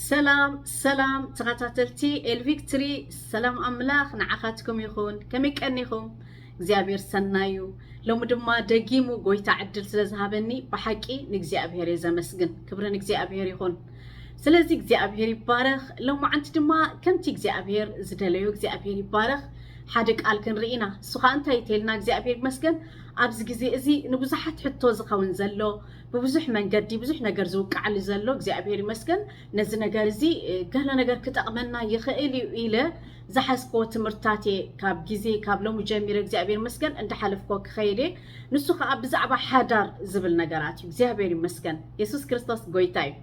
ሰላም ሰላም ተኸታተልቲ ኤልቪክትሪ ሰላም ኣምላኽ ንዓኻትኩም ይኹን ከመይ ቀኒኹም እግዚኣብሔር ሰናዩ ሎሚ ድማ ደጊሙ ጎይታ ዕድል ስለ ዝሃበኒ ብሓቂ ንእግዚኣብሔር እየ ዘመስግን ክብሪ ንእግዚኣብሔር ይኹን ስለዚ እግዚኣብሔር ይባረኽ ሎማዓንቲ ድማ ከምቲ እግዚኣብሔር ዝደለዮ እግዚኣብሔር ይባረኽ ሓደ ቃል ክንርኢ ኢና እሱ ከዓ እንታይ እተልና እግዚኣብሔር ይመስገን ኣብዚ ግዜ እዚ ንብዙሓት ሕቶ ዝኸውን ዘሎ ብብዙሕ መንገዲ ብዙሕ ነገር ዝውቃዕሊ ዘሎ እግዚኣብሔር ይመስገን ነዚ ነገር እዚ ገለ ነገር ክጠቕመና ይኽእል እዩ ኢለ ዝሓዝክዎ ትምህርትታት እየ ካብ ግዜ ካብ ሎሚ ጀሚረ እግዚኣብሔር ይመስገን እንዳሓለፍክዎ ክኸይድ እየ ንሱ ከዓ ብዛዕባ ሓዳር ዝብል ነገራት እዩ እግዚኣብሔር ይመስገን የሱስ ክርስቶስ ጎይታ እዩ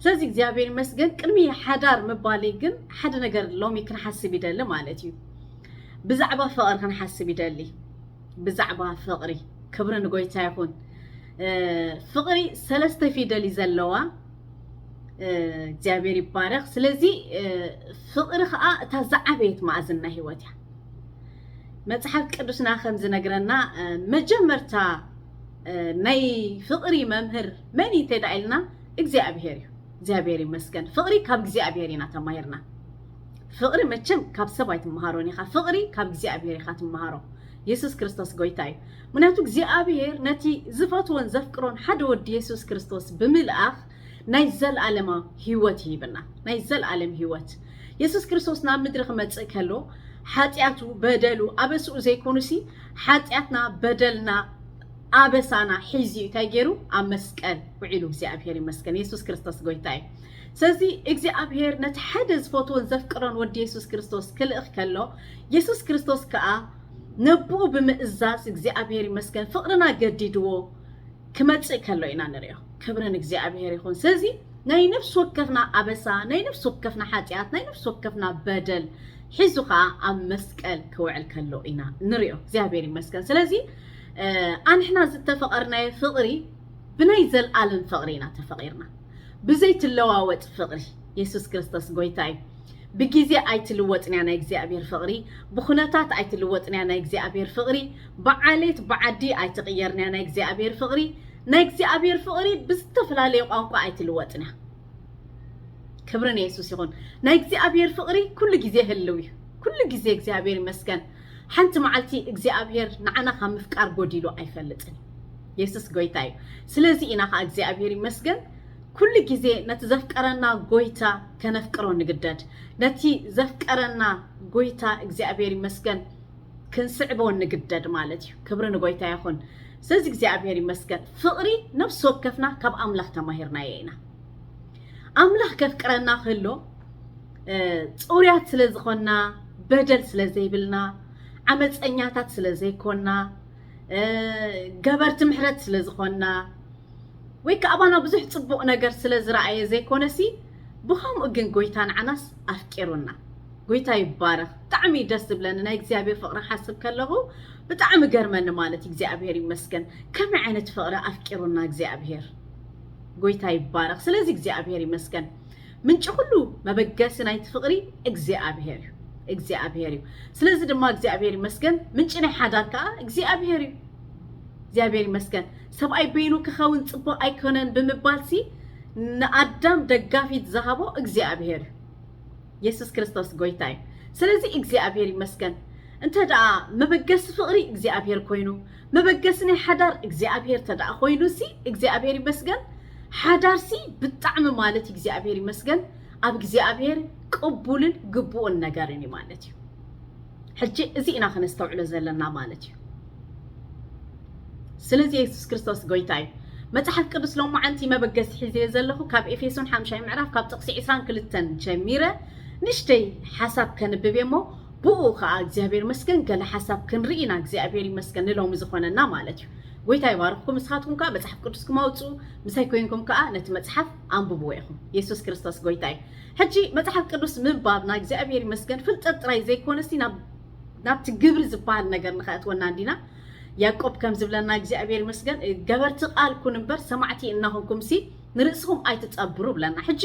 ስለዚ እግዚኣብሔር ይመስገን ቅድሚ ሓዳር ምባለይ ግን ሓደ ነገር ሎሚ ክንሓስብ ይደሊ ማለት እዩ ብዛዕባ ፍቕሪ ክንሓስብ ይደሊ ብዛዕባ ፍቕሪ ክብሪ ንጎይታ ይኹን። ፍቕሪ ሰለስተ ፊደል እዩ ዘለዋ። እግዚኣብሔር ይባረኽ። ስለዚ ፍቕሪ ከዓ እታ ዝዓበየት ማእዝን ናይ ህይወት እያ። መፅሓፍ ቅዱስና ከም ዝነግረና መጀመርታ ናይ ፍቕሪ መምህር መን እዩ እንተድኣ ኢልና እግዚኣብሔር እዩ። እግዚኣብሔር ይመስገን ፍቕሪ ካብ እግዚኣብሔር ኢና ተማሂርና። ፍቅሪ መቸም ካብ ሰብ ኣይትመሃሮን ኢካ ፍቅሪ ካብ እግዚኣብሄር ኢካ ትመሃሮ የሱስ ክርስቶስ ጎይታ እዩ ምክንያቱ እግዚኣብሄር ነቲ ዝፈትዎን ዘፍቅሮን ሓደ ወዲ የሱስ ክርስቶስ ብምልኣኽ ናይ ዘልኣለማ ህይወት ይሂበና ናይ ዘልኣለም ህይወት የሱስ ክርስቶስ ናብ ምድሪ ክመጽእ ከሎ ሓጢኣቱ በደሉ ኣበስኡ ዘይኮኑሲ ሓጢኣትና በደልና ኣበሳና ሒዙ እንታይ ገይሩ ኣብ መስቀል ውዒሉ እግዚኣብሄር ይመስገን የሱስ ክርስቶስ ጎይታ እዩ ስለዚ እግዚኣብሄር ነቲ ሓደ ዝፈትዎን ዘፍቅሮን ወዲ የሱስ ክርስቶስ ክልእኽ ከሎ የሱስ ክርስቶስ ከኣ ነቦኡ ብምእዛዝ እግዚኣብሄር ይመስገን ፍቕርና ገዲድዎ ክመጽእ ከሎ ኢና ንርእዮ ክብሪ ንእግዚኣብሄር ይኹን ስለዚ ናይ ነፍሲ ወከፍና ኣበሳ ናይ ነፍሲ ወከፍና ሓጢኣት ናይ ነፍሲ ወከፍና በደል ሒዙ ከዓ ኣብ መስቀል ክውዕል ከሎ ኢና ንሪኦ እግዚኣብሄር ይመስገን ስለዚ ኣንሕና ዝተፈቐርናዮ ፍቕሪ ብናይ ዘልኣለም ፍቕሪ ኢና ተፈቒርና ብዘይ ትለዋወጥ ፍቕሪ የሱስ ክርስቶስ ጎይታ እዩ። ብግዜ ኣይትልወጥንያ ናይ እግዚኣብሔር ፍቕሪ፣ ብኹነታት ኣይትልወጥንያ ናይ እግዚኣብሔር ፍቕሪ፣ ብዓሌት ብዓዲ ኣይትቕየርንያ ናይ እግዚኣብሔር ፍቕሪ፣ ናይ እግዚኣብሔር ፍቕሪ ብዝተፈላለየ ቋንቋ ኣይትልወጥንያ። ክብሪ ንየሱስ ይኹን። ናይ እግዚኣብሔር ፍቕሪ ኩሉ ግዜ ህልው እዩ። ኩሉ ግዜ እግዚኣብሔር ይመስገን። ሓንቲ መዓልቲ እግዚኣብሄር ንዓና ካብ ምፍቃር ጎዲሉ ኣይፈልጥን እዩ። የሱስ ጎይታ እዩ። ስለዚ ኢና ከኣ እግዚኣብሄር ይመስገን ኩሉ ግዜ ነቲ ዘፍቀረና ጎይታ ከነፍቅሮ ንግደድ። ነቲ ዘፍቀረና ጎይታ እግዚኣብሄር ይመስገን ክንስዕቦ ንግደድ ማለት እዩ። ክብሪ ንጎይታ ይኹን። ስለዚ እግዚኣብሄር ይመስገን ፍቕሪ ነፍሲ ወከፍና ካብ ኣምላኽ ተማሂርናዮ ኢና። ኣምላኽ ከፍቅረና ከሎ ፅሩያት ስለ ዝኾና በደል ስለ ዘይብልና ዓመፀኛታት ስለ ዘይኮና ገበርቲ ምሕረት ስለ ዝኾና ወይ ከዓ ኣባና ብዙሕ ፅቡቕ ነገር ስለ ዝረኣየ ዘይኮነሲ ብከምኡ ግን ጎይታ ንዓናስ ኣፍቂሩና ጎይታ ይባረኽ ብጣዕሚ እዩ ደስ ዝብለኒ ናይ እግዚኣብሔር ፍቕሪ ሓስብ ከለኹ ብጣዕሚ ገርመኒ ማለት እግዚኣብሔር ይመስገን ከመይ ዓይነት ፍቕሪ ኣፍቂሩና እግዚኣብሔር ጎይታ ይባረኽ። ስለዚ እግዚኣብሔር ይመስገን። ምንጪ ኩሉ መበገሲ ናይቲ ፍቕሪ እግዚኣብሔር እዩ እግዚኣብሔር እዩ። ስለዚ ድማ እግዚኣብሔር ይመስገን ምንጪ ናይ ሓዳር ከዓ እግዚኣብሔር እዩ። እግዚኣብሔር ይመስገን። ሰብኣይ በይኑ ክኸውን ጽቡቕ ኣይኮነን ብምባልሲ ንኣዳም ደጋፊት ዝሃቦ እግዚኣብሔር እዩ። የሱስ ክርስቶስ ጎይታ እዩ። ስለዚ እግዚኣብሔር ይመስገን። እንተ ደኣ መበገሲ ፍቕሪ እግዚኣብሔር ኮይኑ መበገሲ ናይ ሓዳር እግዚኣብሔር ተደኣ ኮይኑ ሲ እግዚኣብሔር ይመስገን ሓዳር ሲ ብጣዕሚ ማለት እግዚኣብሔር ይመስገን ኣብ እግዚኣብሔር ቅቡልን ግቡእን ነገርን እዩ ማለት እዩ ሕጂ እዚ ኢና ከነስተውዕሎ ዘለና ማለት እዩ ስለዚ የሱስ ክርስቶስ ጎይታ እዩ መጽሓፍ ቅዱስ ሎማዓንቲ መበገሲ ሒዘዮ ዘለኹ ካብ ኤፌሶን ሓምሻይ ምዕራፍ ካብ ጥቕሲ 22 ጀሚረ ንሽተይ ሓሳብ ከንብብ እሞ ቡኡ ካኣ እግዚኣብሔር ይመስገን ገለ ሓሳብ ክንሪኢ ኢና እግዚኣብሔር ይመስገን ንሎሚ ዝኮነና ማለት እዩ ጎይታ ይባርክኩም ንስካትኩም ካኣ መጽሓፍ ቅዱስኩም ኣውጹኡ ምሳይ ኮንኩም ካኣ ነቲ መጽሓፍ ኣንብብዎ ኢኩም የሱስ ክርስቶስ ጎይታ እዩ ሕጂ መጽሓፍ ቅዱስ ምንባብ ናይ እግዚኣብሔር ይመስገን ፍልጠት ጥራይ ዘይኮነሲ ናብ ናብቲ ግብሪ ዝበሃል ነገር ንከእትወና እንዲና ያቆብ ከም ዝብለና እግዚኣብሔር ይመስገን ገበርቲ ቃል ኩን እምበር ሰማዕቲ እናኮንኩምሲ ንርእስኹም ኣይትጸብሩ እብለና ሕጂ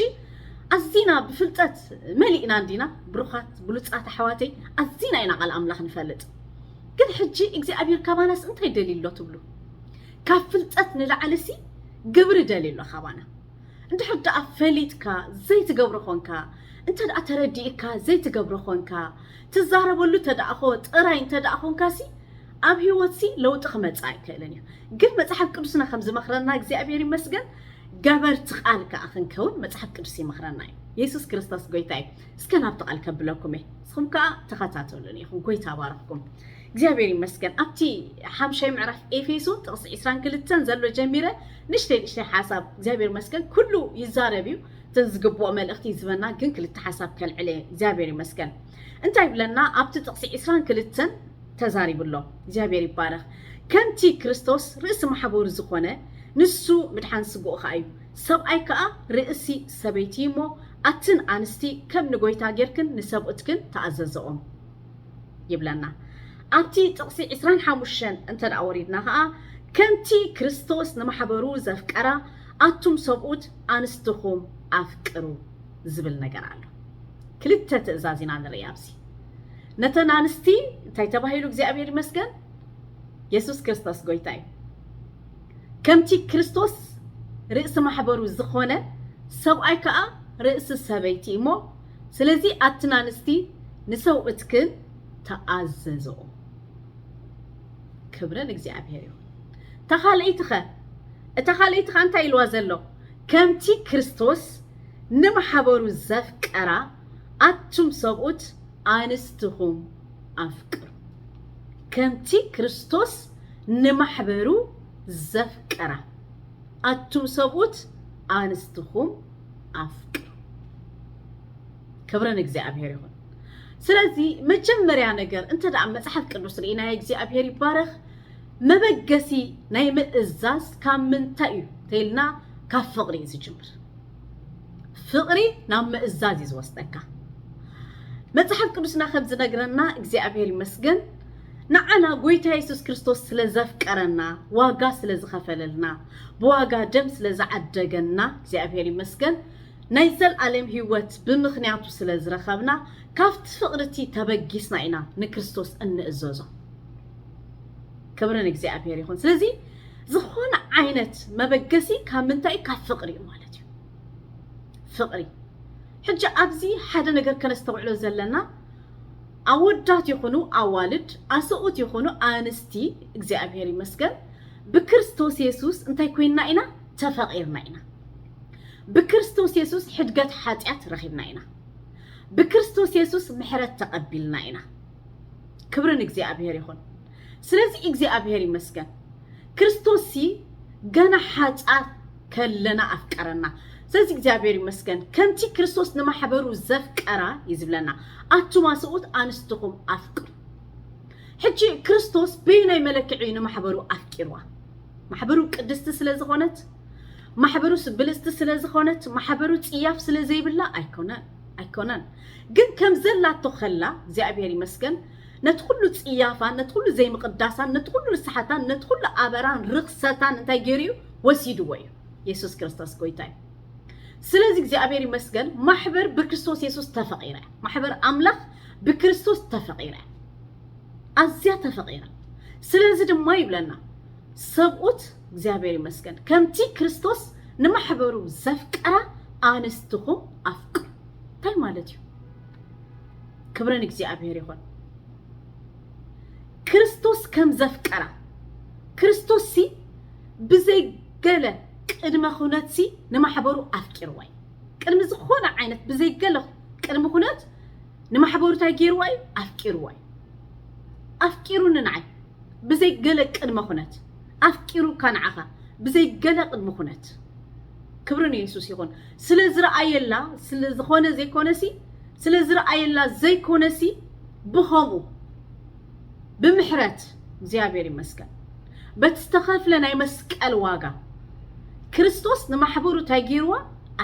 ኣዚና ብፍልጠት መሊእና እንዲና ብሩኻት ብሉጻት ኣሕዋተይ ኣዚና ኢና ቃል ኣምላኽ ንፈልጥ ግን ሕጂ እግዚኣብሔር ካባናስ እንታይ ደልዩ ኣሎ ትብሉ ካብ ፍልጠት ንላዕሊሲ ግብሪ ደልዩ ኣሎ ካባና እንድሕር ደኣ ፈሊጥካ ዘይትገብሮ ኾንካ እንተ ደኣ ተረዲእካ ዘይትገብሮ ኾንካ ትዛረበሉ ተደኣ ኾ ጥራይ እንተ ደኣ ኾንካሲ ኣብ ህይወትሲ ለውጢ ክመጽእ ኣይክእልን እዩ። ግን መጽሓፍ ቅዱስና ከም ዝመኽረና እግዚኣብሔር ይመስገን ገበርቲ ቃል ከኣ ክንከውን መጽሓፍ ቅዱስ ይመኽረና እዩ። የሱስ ክርስቶስ ጎይታ እዩ። እስከ ናብቲ ቃል ከብለኩም እየ። ንስኹም ከኣ ተኸታተሉን ኢኹም። ጎይታ ባረኽኩም። እግዚኣብሔር ይመስገን ኣብቲ ሓምሻይ ምዕራፍ ኤፌሶን ጥቕሲ 22 ዘሎ ጀሚረ ንሽተይ ንሽተይ ሓሳብ እግዚኣብሔር ይመስገን ኩሉ ይዛረብ እዩ እተን ዝግብኦ መልእኽቲ ይዝበና ግን ክልተ ሓሳብ ከልዕለ እግዚኣብሔር ይመስገን እንታይ ይብለና ኣብቲ ጥቅሲ ዕስራን ክልተን ተዛሪቡ ኣሎ እግዚኣብሔር ይባረክ ከምቲ ክርስቶስ ርእሲ ማሕበሩ ዝኮነ ንሱ ምድሓን ስግኡ ከኣ እዩ ሰብኣይ ከኣ ርእሲ ሰበይቲ እዩ እሞ ኣትን ኣንስቲ ከም ንጎይታ ጌርክን ንሰብኡትክን ተኣዘዘኦም ይብለና ኣብቲ ጥቅሲ ዕስራን ሓሙሽተን እንተ ወሪድና ከኣ ከምቲ ክርስቶስ ንማሕበሩ ዘፍቀራ ኣቱም ሰብኡት ኣንስትኩም ኣፍቅሩ ዝብል ነገር ኣሎ ክልተ ትእዛዝ ኢና ንርኢ ኣብዚ ነተን ኣንስቲ እንታይ ተባሂሉ እግዚኣብሔር ይመስገን የሱስ ክርስቶስ ጎይታ እዩ ከምቲ ክርስቶስ ርእሲ ማሕበሩ ዝኾነ ሰብኣይ ከዓ ርእሲ ሰበይቲ እሞ ስለዚ ኣትን ኣንስቲ ንሰውእትክን ተኣዘዝኦ ክብረ ንእግዚኣብሔር እዩ እታ ካልኣይቲ ኸ እታ ካልኣይቲ ኸ እንታይ ኢልዋ ዘሎ ከምቲ ክርስቶስ ንማሕበሩ ዘፍቀራ ኣቱም ሰብኡት ኣንስትኹም ኣፍቅሩ ከምቲ ክርስቶስ ንማሕበሩ ዘፍቀራ ኣቱም ሰብኡት ኣንስትኹም ኣፍቅሩ ክብሪ ንእግዚኣብሔር ይኹን ስለዚ መጀመርያ ነገር እንተ መጽሓፍ ቅዱስ ርኢናዮ እግዚኣብሔር ይባረኽ መበገሲ ናይ ምእዛዝ ካብ ምንታይ እዩ ተይልና ካብ ፍቕሪ እዩ ዝጅምር ፍቕሪ ናብ ምእዛዝ እዩ ዝወስደካ መጽሓፍ ቅዱስና ከም ዝነግረና እግዚኣብሔር ይመስገን ንዓና ጎይታ የሱስ ክርስቶስ ስለ ዘፍቀረና ዋጋ ስለ ዝኸፈለልና ብዋጋ ደም ስለ ዝዓደገና እግዚኣብሔር ይመስገን ናይ ዘልኣለም ህይወት ብምኽንያቱ ስለ ዝረኸብና ካብቲ ፍቕርቲ ተበጊስና ኢና ንክርስቶስ እንእዘዞ ክብሪ ንእግዚኣብሔር ይኹን። ስለዚ ዝኾነ ዓይነት መበገሲ ካብ ምንታይ ካብ ፍቕሪ እዩ ማለት እዩ። ፍቕሪ ሕጂ ኣብዚ ሓደ ነገር ከነስተውዕሎ ዘለና ኣወዳት ይኹኑ ኣዋልድ፣ ኣሰኡት ይኹኑ ኣንስቲ፣ እግዚኣብሔር ይመስገን ብክርስቶስ የሱስ እንታይ ኮይንና ኢና? ተፈቒርና ኢና። ብክርስቶስ የሱስ ሕድገት ሓጢኣት ረኺብና ኢና። ብክርስቶስ የሱስ ምሕረት ተቐቢልና ኢና። ክብሪ ንእግዚኣብሔር ይኹን። ስለዚ እግዚኣብሔር ይመስገን ክርስቶስ ሲ ገና ሓጻር ከለና ኣፍቀረና። ስለዚ እግዚኣብሔር ይመስገን ከምቲ ክርስቶስ ንማሕበሩ ዘፍቀራ እዩ ዝብለና ኣቱማ ሰብኡት ኣንስትኹም ኣፍቅሩ። ሕጂ ክርስቶስ በየናይ መለክዒ እዩ ንማሕበሩ ኣፍቂርዋ? ማሕበሩ ቅድስቲ ስለ ዝኾነት ማሕበሩስ ብልጽቲ ስለ ዝኾነት ማሕበሩ ጽያፍ ስለ ዘይብላ ኣይኮነን። ኣይኮነን ግን ከም ዘላቶ ከላ እግዚኣብሔር ይመስገን ነቲ ኩሉ ጽያፋን ነቲ ኩሉ ዘይምቕዳሳን ነቲ ኩሉ ርስሓታን ነቲ ኩሉ ኣበራን ርኽሰታን እንታይ ገይሩ እዩ ወሲድዎ እዩ የሱስ ክርስቶስ ጎይታ እዩ ስለዚ እግዚኣብሔር ይመስገን ማሕበር ብክርስቶስ የሱስ ተፈቂረ ማሕበር ኣምላኽ ብክርስቶስ ተፈቂረ ኣዝያ ተፈቂረ ስለዚ ድማ ይብለና ሰብኡት እግዚኣብሔር ይመስገን ከምቲ ክርስቶስ ንማሕበሩ ዘፍቀራ ኣንስትኹም ኣፍቅሩ እንታይ ማለት እዩ ክብሪ ንእግዚኣብሔር ይኹን ክርስቶስ ከም ዘፍቀራ ክርስቶስ ሲ ብዘይ ገለ ቅድመ ኩነት ሲ ንማሕበሩ ኣፍቂርዋ እዩ ቅድሚ ዝኾነ ዓይነት ብዘይ ገለ ቅድሚ ኩነት ንማሕበሩ እንታይ ገይርዋ እዩ ኣፍቂርዋ እዩ ኣፍቂሩኒ ንዓይ ብዘይ ገለ ቅድመ ኩነት ኣፍቂሩካ ንዓኻ ብዘይ ገለ ቅድመ ኩነት ክብሪ ንየሱስ ይኹን ስለ ዝረኣየላ ስለ ዝኾነ ዘይኮነሲ ስለ ዝረኣየላ ዘይኮነሲ ብኸምኡ ብምሕረት እግዚኣብሔር ይመስገን በቲ ዝተኸፍለ ናይ መስቀል ዋጋ ክርስቶስ ንማሕበሩ እንታይ ገይርዋ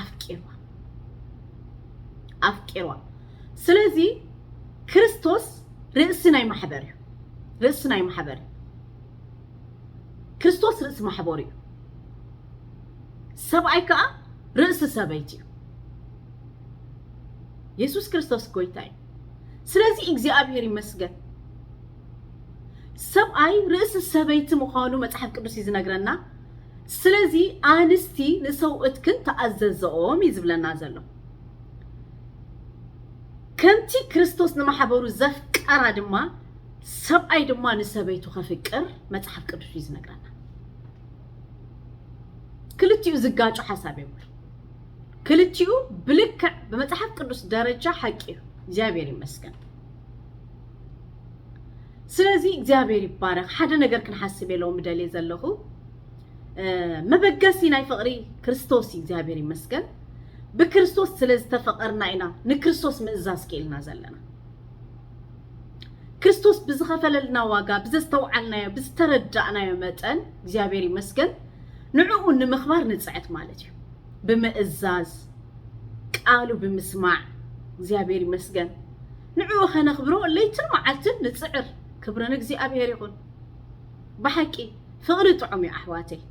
ኣፍቂርዋ ኣፍቂርዋ ስለዚ ክርስቶስ ርእሲ ናይ ማሕበር እዩ ርእሲ ናይ ማሕበር እዩ ክርስቶስ ርእሲ ማሕበር እዩ ሰብኣይ ከዓ ርእሲ ሰበይቲ እዩ የሱስ ክርስቶስ ጎይታ እዩ ስለዚ እግዚኣብሔር ይመስገን ሰብኣይ ርእሲ ሰበይቲ ምዃኑ መጽሓፍ ቅዱስ እዩ ዝነግረና ስለዚ ኣንስቲ ንሰውእትክን ተኣዘዘኦም እዩ ዝብለና ዘሎ ከምቲ ክርስቶስ ንማሕበሩ ዘፍቀራ ድማ ሰብኣይ ድማ ንሰበይቱ ከፍቅር መጽሓፍ ቅዱስ እዩ ዝነግረና። ክልቲኡ ዝጋጩ ሓሳብ የብሉ። ክልቲኡ ብልክዕ ብመጽሓፍ ቅዱስ ደረጃ ሓቂ እዩ። እግዚኣብሔር ይመስገን። ስለዚ እግዚኣብሔር ይባረክ። ሓደ ነገር ክንሓስብ የለው ምደልየ ዘለኹ መበገሲ ናይ ፍቕሪ ክርስቶስ እዩ። እግዚኣብሔር ይመስገን። ብክርስቶስ ስለ ዝተፈቐርና ኢና ንክርስቶስ ምእዛዝ ክኢልና ዘለና። ክርስቶስ ብዝኸፈለልና ዋጋ ብዘስተውዓልናዮ ብዝተረዳእናዮ መጠን እግዚኣብሔር ይመስገን ንዕኡ ንምኽባር ንፅዕት ማለት እዩ ብምእዛዝ ቃሉ ብምስማዕ እግዚኣብሔር ይመስገን ንዕኡ ከነኽብሮ ለይትን መዓልትን ንፅዕር ክብርን እግዚኣብሔር ይኹን ብሓቂ ፍቅሪ ጥዑም እዩ ኣሕዋተይ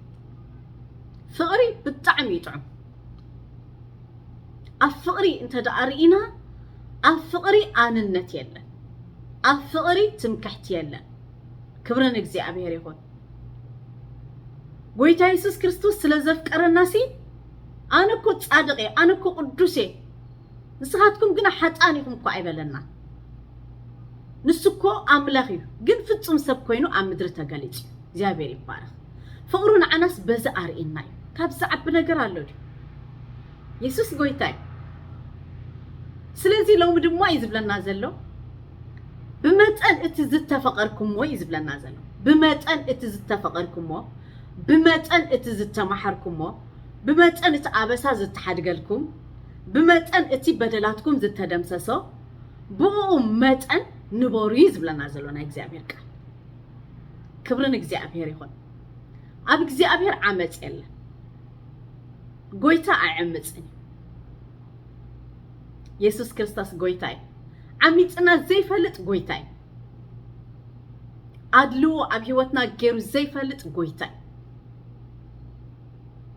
ፍቅሪ ብጣዕሚ እዩ ጥዑም ኣብ ፍቅሪ እንተደኣ ርኢና ኣብ ፍቅሪ ኣንነት የለን ኣብ ፍቅሪ ትምክሕቲ የለን ክብሪ ንእግዚኣብሔር ይኹን ጎይታ የሱስ ክርስቶስ ስለ ዘፍቀረና ሲ ኣነ እኮ ጻድቅ እየ ኣነ እኮ ቅዱስ እየ ንስኻትኩም ግና ሓጥኣን ኢኹም እኳ ኣይበለናን። ንሱ እኮ ኣምላኽ እዩ፣ ግን ፍጹም ሰብ ኮይኑ ኣብ ምድሪ ተገሊጹ እዩ። እግዚኣብሔር ይባረኽ። ፍቕሩ ንዓናስ በዚ ኣርእየና እዩ። ካብ ዝዓቢ ነገር ኣሎ ድዩ? የሱስ ጎይታ እዩ። ስለዚ ሎሚ ድማ እዩ ዝብለና ዘሎ ብመጠን እቲ ዝተፈቐርኩሞ እዩ ዝብለና ዘሎ ብመጠን እቲ ዝተፈቐርኩሞ ብመጠን እቲ ዝተማሓርኩሞ ብመጠን እቲ ኣበሳ ዝተሓድገልኩም ብመጠን እቲ በደላትኩም ዝተደምሰሶ ብእኡ መጠን ንበሩ እዩ ዝብለና ዘሎ ናይ እግዚኣብሔር ቃል ክብሪ ንእግዚኣብሔር ይኹን ኣብ እግዚኣብሔር ዓመፅ የለን ጎይታ ኣይዕምፅን የሱስ ክርስቶስ ጎይታ እዩ ዓሚፅና ዘይፈልጥ ጎይታ እዩ ኣድልዎ ኣብ ህይወትና ገይሩ ዘይፈልጥ ጎይታ እዩ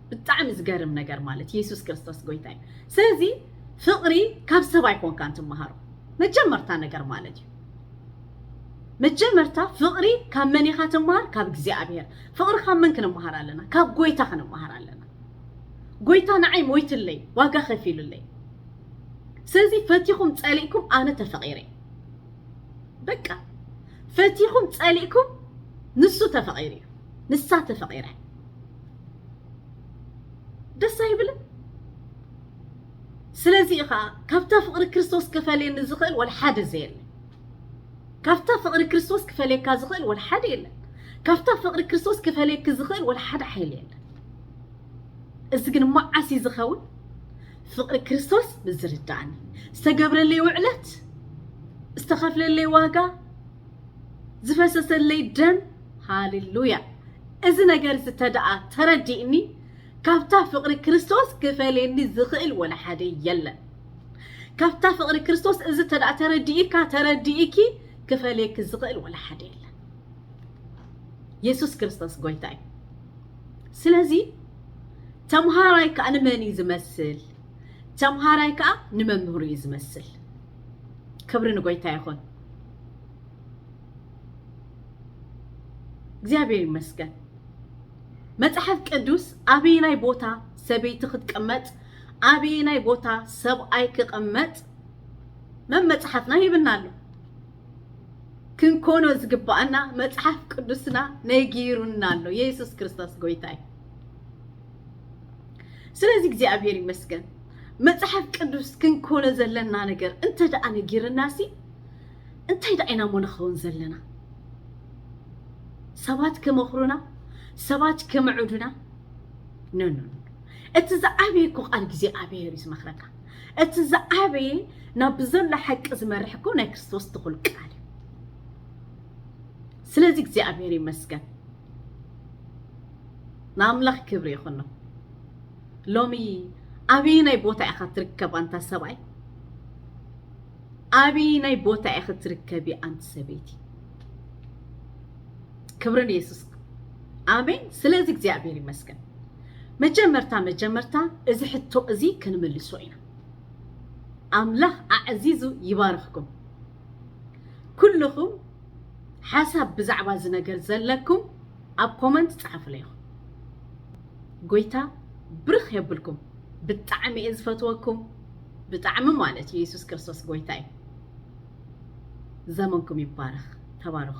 ብጣዕሚ ዝገርም ነገር ማለት የሱስ ክርስቶስ ጎይታ እዩ ስለዚ ፍቕሪ ካብ ሰብ ኣይኮንካን ትመሃሮ መጀመርታ ነገር ማለት እዩ መጀመርታ ፍቕሪ ካብ መን ኢኻ ትመሃር ካብ እግዚኣብሔር ፍቕሪ ካብ መን ክንመሃር ኣለና ካብ ጎይታ ክንመሃር ኣለና ጎይታ ንዓይ ሞይትለይ ዋጋ ከፊሉለይ ስለዚ ፈቲኹም ጸሊእኩም ኣነ ተፈቒረ በቃ ፈቲኹም ጸሊእኩም ንሱ ተፈቒሩ እዩ ንሳ ተፈቂረ ደስ ኣይብልን ስለዚ ኢኻ ካብታ ፍቕሪ ክርስቶስ ክፈልየኒ ዝኽእል ወላ ሓደ ዘየለ ካብታ ፍቕሪ ክርስቶስ ክፈልየካ ዝኽእል ወላ ሓደ የለን ካብታ ፍቕሪ ክርስቶስ ክፈልየኪ ዝኽእል ወላ ሓደ ሓይሊ የለን እዚ ግን መዓስ እዩ ዝኸውን ፍቕሪ ክርስቶስ ምዝርዳእኒ ዝተገብረለይ ውዕለት ዝተኸፍለለይ ዋጋ ዝፈሰሰለይ ደም ሃሌሉያ እዚ ነገር እዚ ተደኣ ተረዲእኒ ካብታ ፍቕሪ ክርስቶስ ክፈልየኒ ዝኽእል ወላ ሓደ የለን ካብታ ፍቕሪ ክርስቶስ እዚ ተደኣ ተረዲእካ ተረዲእኪ ክፈልየኪ ዝኽእል ወላ ሓደ የለን የሱስ ክርስቶስ ጎይታ እዩ ስለዚ ተምሃራይ ከዓ ንመን እዩ ዝመስል ተምሃራይ ከዓ ንመምህሩ እዩ ዝመስል ክብሪ ንጎይታ ይኹን እግዚኣብሔር ይመስገን። መጽሐፍ ቅዱስ ኣበየናይ ቦታ ሰበይቲ ክትቀመጥ ኣበየናይ ቦታ ሰብኣይ ክቐመጥ መመጽሓፍና ይብና ኣሎ። ክንኮኖ ዝግባኣና መጽሓፍ ቅዱስና ነጊሩና ኣሎ። የሱስ ክርስቶስ ጎይታይ። ስለዚ እግዚኣብሔር ይመስገን። መጽሓፍ ቅዱስ ክንኮኖ ዘለና ነገር እንተ ደኣ ነጊርናሲ እንታይ ደኣ ኢና እሞ ንኸውን ዘለና? ሰባት ክመኽሩና፣ ሰባት ክምዕዱና ኖ ኖ እቲ ዝዓበየ እኮ ቃል ግዜ ኣብሔር እዩ ዝመኽረካ። እቲ ዝዓበየ ናብ ብዘሎ ሓቂ ዝመርሕ እኮ ናይ ክርስቶስ ትኹል ቃል እዩ። ስለዚ እግዚኣብሔር ይመስገን። ንኣምላኽ ክብሪ ይኹኖ። ሎሚ ኣብይናይ ቦታ ኢኻ ትርከብ ኣንታ ሰብኣይ ኣብይናይ ቦታ ኢኺ ትርከቢ ኣንቲ ሰበይቲ ክብሪ ንየሱስ ኣሜን ስለዚ እግዚኣብሔር ይመስገን መጀመርታ መጀመርታ እዚ ሕቶ እዚ ክንምልሶ ኢና ኣምላኽ ኣዕዚዙ ይባርኽኩም ኩልኹም ሓሳብ ብዛዕባ እዚ ነገር ዘለኩም ኣብ ኮመንት ጸሓፉለይ ጎይታ ብርኽ የብልኩም ብጣዕሚ እየ ዝፈትወኩም ብጣዕሚ ማለት እዩ የሱስ ክርስቶስ ጎይታ እዩ ዘመንኩም ይባረኽ ተባረኹ።